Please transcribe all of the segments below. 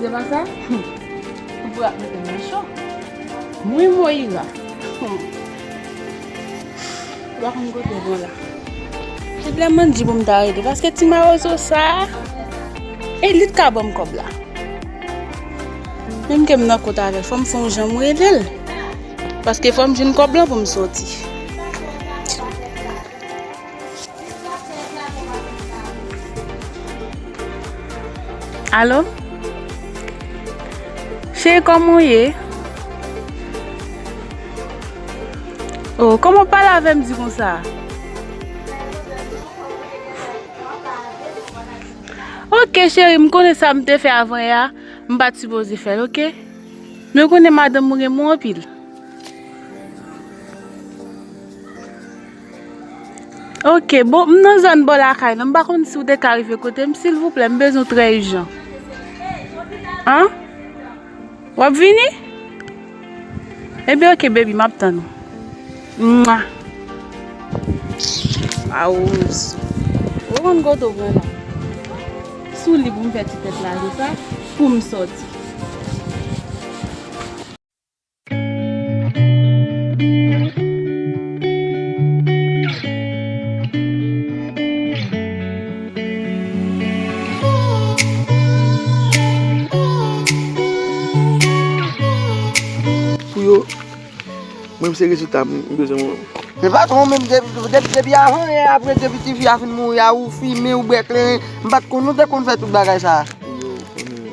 Se pa sa? Ou pral mete m nan chòk. Mwen Moïra. Ou pa konn kote w bon la. Se lè mwen di pou m ta rete paske ti mawozo sa a, e li t ka ban m kòb la. Menm ke m nan kont avè l, fò m fè yon jan m rele l. Paske fò m jwenn kòb lan pou m soti. Allo Cheri kòman ou ye? O kòman ou pale avè m di konsa? Ok cheri m konnen sa m te fè avan yè a m pa t sipoze fè l ok Men ou konnen madanm ou renmen w anpil Ok bon m nan zòn bò lakay nan m pa konn si w te ka rive kote m silvouplè m bezwen w trè ijan An? W ap vini? Ebyen ok bebi m ap tann ou Mwa A ou sou Ou konn kote w pran la Sou li pou m fè ti tèt la se sa pou m sòti. Pou yo, mwen se rezilta m bezwen mwen. Men patron menm depi avan yè aprè depi tifi a fin mouri a ou fimen ou bwè kleren m pat konn nou te konn fè tout bagay sa.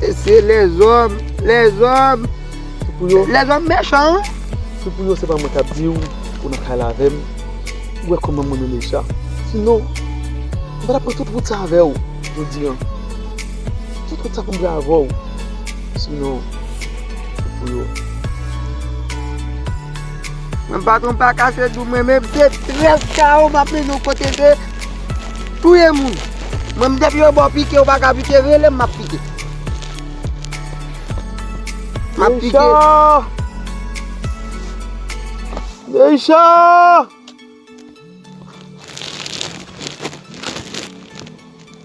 Mesye lèzòm, lèzòm. Se pou yo. Lèzòm mechan wi. Se pou yo se pa mwen kap di ou pou nan kay la avèm. Ou wè kòman mwen renmen Richard. Si non, m pa tap pran tout wout sa avè ou jodi an. Tout wout sa pou m pran avè ou. Si non, se pou yo. Mwen pa tronpe ak ase dou mwen men m se 13 kawo m ap mennen w kote ke. Touye moun. Mwen m depi yo baw pike ou paka pike relem map pike. Map pike. Neysha!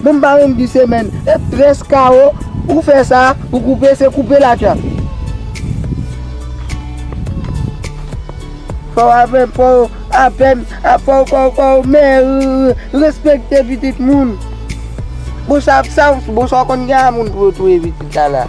Bon m pa menm di semèn e tres kawo ou fè sa ou koupe se koupe la tya. Fòw avèm fòw avèm a fòw fòw fòw merr respekte pitit moun. Bon sa bon sa w konn gen a moun pou yo touye pitit la la.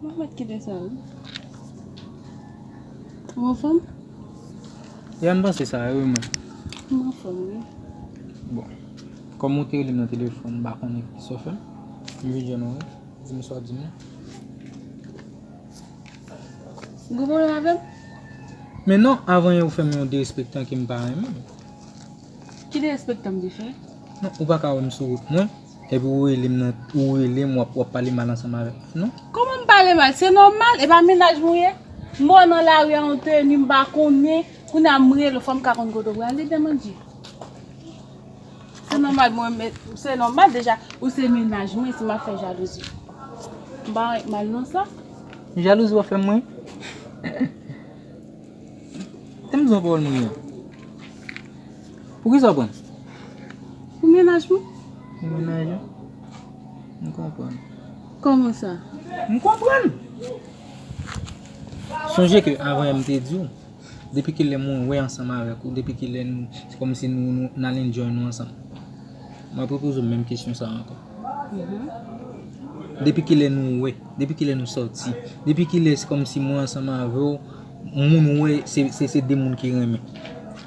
Mwen met kite sa wi. Ou anfom? Ya m panse sa wi mwen. M anfom wi. Bon. Kom ou te rele m nan telefon m pa konnen kisa w fe. M vin jwenn ou wi. Di m sa w ap di m lan. Ou gen pwoblem avè m? Men non, avan yon ou fè m yon derespektan ke m pa renmen. Ki derespektan m te fè? Non, ou pa ka wè m sou wout mwen. Epi ou rele m nan ou rele m wap pale mal ansanm avè m non. Kòman m pale mal se nòmal e pa mennaj mwen ye m wè w nan lari a yon teni m pa konnen kounye a m rele w fò m ka konn kote w prale dèm an di se nòmal mwen menm se nòmal deja ou se mennaj mwen si m ap fè jalouzi m pa wè mal nan sa. Jalouzi wap fè m mwen? Tande m di w anpawòl m ri an. Poukisa w prann? Pou menaj mwen. Pou menaj ou? M konprann. Kòman sa? M konprann! Sonje ke avan m te di w, depi ki lè mwen wè ansanm avèk ou, depi ki lè nou, se kòm si nou nan enjoy nou ansanm. M ap repoze w menm kesyon sa ankò. Depi ki lè nou wè, depi ki lè nou sòti, depi ki lè se kòm si mwen ansanm avè w, moun wè se de moun ki renmen.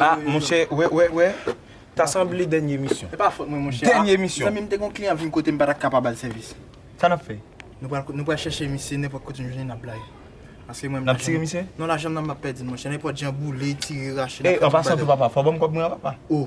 Ah monchè, wè wè wè, ta sanble dènye emisyon. Se pa fòt mwen monchè. Dènye emisyon. Zanmi m te gon kliyan vin kote m pa ta kapa bal sèvis. Sa nap fè? Nou pral nou pral chèche misye nenpòt kote nou jwenn li nap bla li. Paske mwen Nap tire misye? Non lajan m nan m pap pèdi l monchè nenpòt jan boule, tire, rache. Ey an pasan tou papa, fò w banm kòb mwen an papa. Oh!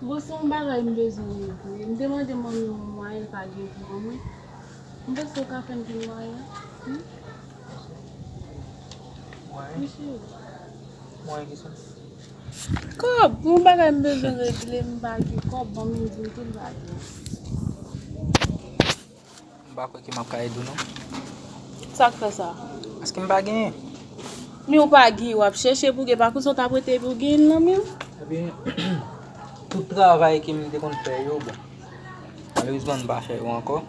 Bon se yon bagay m bezwen regle. M te mande manmi m yon mwayen l pa gen pou mwen. M panse ou ka fè m jwenn mwayen an wi. Mwayen? Wi cheri. Mwayen ki sa? Kòb! Yon bagay m bezwen regle m pa gen kòb manmi m di m tou l pa gen. M pa kwè ke m ap ka ede w non. Sa k fè sa? Paske m pa genyen. Men ou pa genyen, w ap chèche pou w gen. Pa konsa w t ap rete epi w genyen nan men w? Ebyen, tout travay ke m te konn fè yo, bon, malerezman m pa fè yo ankò.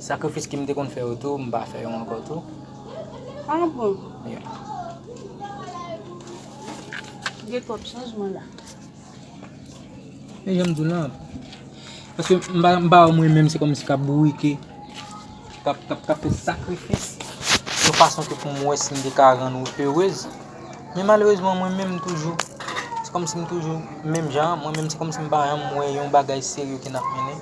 Sakrifis ke m te konn fè yo tou, m pa fè yo ankò tou. A bon? Wi. Gen twòp chanjman la. E janm di w lan, paske m pa m pa wè mwen menm se kòmsi k ap bourike, k ap k ap fè sakrifis, yon fason ke pou m wè si m te ka rann ou erez, men malerezman mwen menm toujou, se kòmsi m toujou menm jan an, mwen menm se kòmsi m pa janm wè yon bagay serye ke n ap mennen.